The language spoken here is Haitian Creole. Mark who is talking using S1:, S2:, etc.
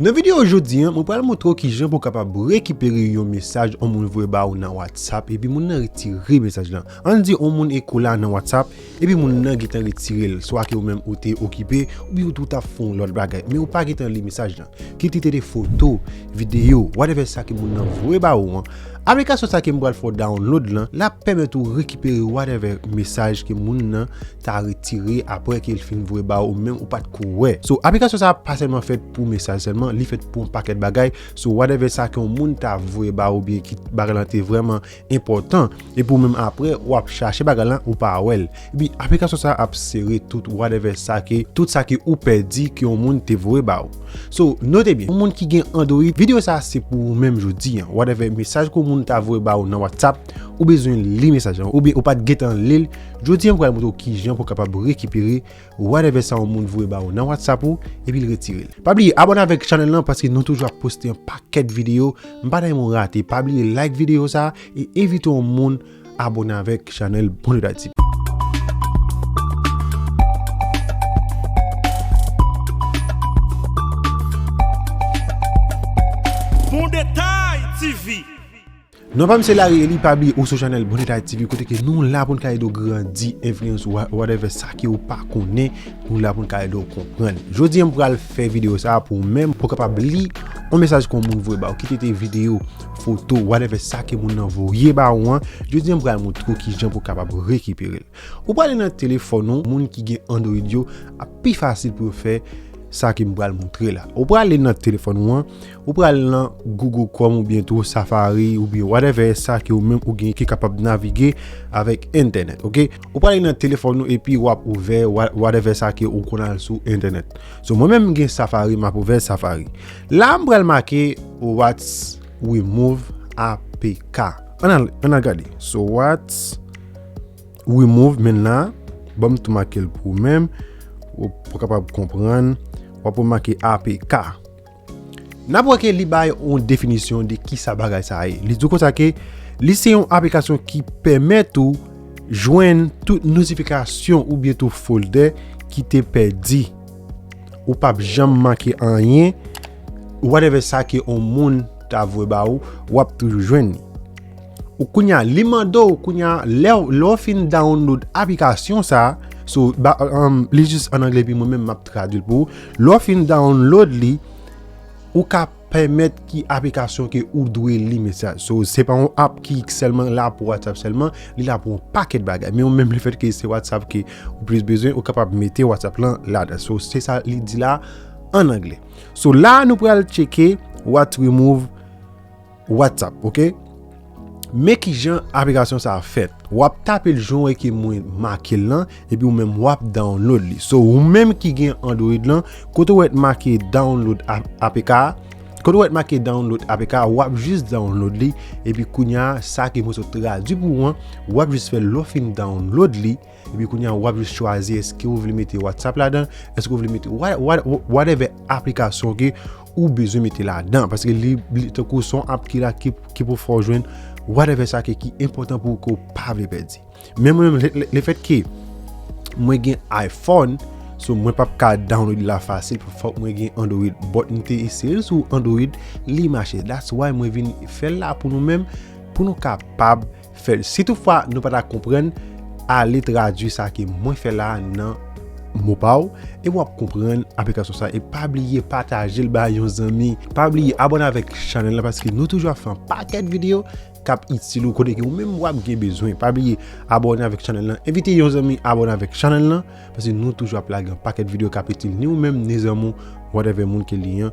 S1: Nan video jodi an, mwen pral montre w kijan pou w kapab rekipere yon mesaj yon moun voye ba ou nan whatsapp epi moun nan retire mesaj lan. Ann di yon moun eko la nan whatsapp epi moun nan gentan retire l, swa ke ou menm ou te okipe oubyen ou tap fè yon lòt bagay men ou pa gentan li mesaj lan. Kit li te de foto, video, whatever sa ke moun nan voye ba ou an, aplikasyon sa ke m pral fè w download lan, lap pèmèt ou rekipere whatever mesaj ke moun nan ta retire apre ke l fin voye ba ou menm ou pat ko wè. So aplikasyon sa pa sèlman fèt pou mesaj sèlman, li fèt pou yon pakèt bagay. So whatever sa ke yon moun ta voye ba ou oubyen ki bagay lan te vrèman enpòtan epi ou menm apre ou ap chache bagay lan ou pa wè l. Epi aplikasyon sa ap sere tout whatever sa ke tout sa ke ou pèdi ke yon moun te voye ba ou. So note byen, yon moun ki gen Android, videyo sa se pou ou menm jodi an. Whatever mesaj ke yon moun ta voye ba ou nan WhatsApp, ou bezwen li mesaj lan oubyen ou pat gentan li l, Jodi a m pral montre w kijan pou w kapab rekipere whatever sa yon moun voye ba ou nan whatsapp ou epi l retire l. Pa bliye abone avèk chanèl lan paske nou toujou ap poste yon pakèt videyo m pa ta renmen w rate pa bliye like videyo sa e envite yon moun abone avèk chanèl Bon Leader TV.
S2: Bon Detay TV. Non
S1: pam se Lari Eli pa bliye ou sou chanèl bon detay TV kote ke nou la poun ka ede w grandi enfliyans ou a whatever sa ke ou pa konnen nou la poun ka ede w konprann jodi an m pral fè video sa pou ou menm pou w kapab li yon mesaj ke yon moun voye ba ou kit ete video foto whatever sa ke moun nan voye ba ou an jodi an m pral moutre w kijan pou w kapab rekipere l ou pral ale nan telefòn ou moun ki gen android yo ap pi fasil pou yo fè sa ke m pral moutre la ou pral ale nan telefòn ou an Ou pral nan Google Chrome oubyen tou Safari oubyen whatever sa ke ou menm ou gen ki kapab navige avèk entènèt ok. Ou prale nan telefòn ou epi wap ouvè whatever sa ke ou konn al sou entènèt. So mwen menm m gen Safari map ouvè Safari. La m pral make what's remove apk. An al an al gade. So what's remove menn la. Ban m tou make l pou ou menm. Ou pou kapab konprann. Wap wè make apk. N ap wè ke li bay yon definisyon de ki sa bagay sa ye. Li di w konsa ke li se yon aplikasyon ki pèmèt ou jwenn tout notifikasyon ou byen tout folder ki te pèdi. Ou pap janm manke anyen. Whatever sa ke yon moun ta vwe ba ou, w ap toujou jwenn li. Ou kounye a, li mande ou kounye a, lè ou fin download aplikasyon sa, sou, li jis an angle pi mwen menm map tradwil pou ou, lè ou fin download li, ou ka pèmèt ki aplikasyon ke ou dwe li mesaj. So, se pa yon app ki sèlman la pou WhatsApp sèlman, li la pou yon pakèt bagay. Men ou menm le fèt ke se WhatsApp ke ou plis bezwen, ou kapab mete WhatsApp lan la dan. So, se sa li di la an angle. So, la nou pral tcheke, what remove. WhatsApp ok Men kijan aplikasyon sa fèt wap tape l jan w wè ke mwen make l lan epi ou menm wap download li so ou menm ki gen android lan kote w wè t make download apk a kote w wè t make download apk a wap jis download li epi kounya sa ke mwen sot tradwi pou ou an wap jis fè l lè w fin download li. Epi kounye a wap jis chwazi eske ou vle mete WhatsApp ladan, eske ou vle mete whatever aplikasyon ke ou bezwen mete ladan. Paske li tankou son app ki la ki pou fè w jwenn whatever sa ke ki enpotan pou ou ke ou pa vle pèdi. Men mwen menm le fèt ke mwen gen iPhone, so mwen pap ka download li la fasil pou fòk mwen gen Android. But m te eseye l sou Android, li mache. That's why mwen vin fè l la pou nou menm, pou nou kapab. Fèl si tout fwa nou pata konprann ale tradwi sa ke mwen fè la nan mo pa ou e wap konprann aplikasyon sa e pa bliye patajel bay yon zanmi pa bliye abòne avèk chanèl la paske nou toujou ap fè yon pakèt videyo kap itil ou kote ke ou menm wap gen bezwen pa bliye abòne avèk chanèl la envite yon zanmi abòne avèk chanèl la paske nou toujou ap lage yon pakèt videyo kap itil ni ou menm ni zanmi ou whatever moun ke li an.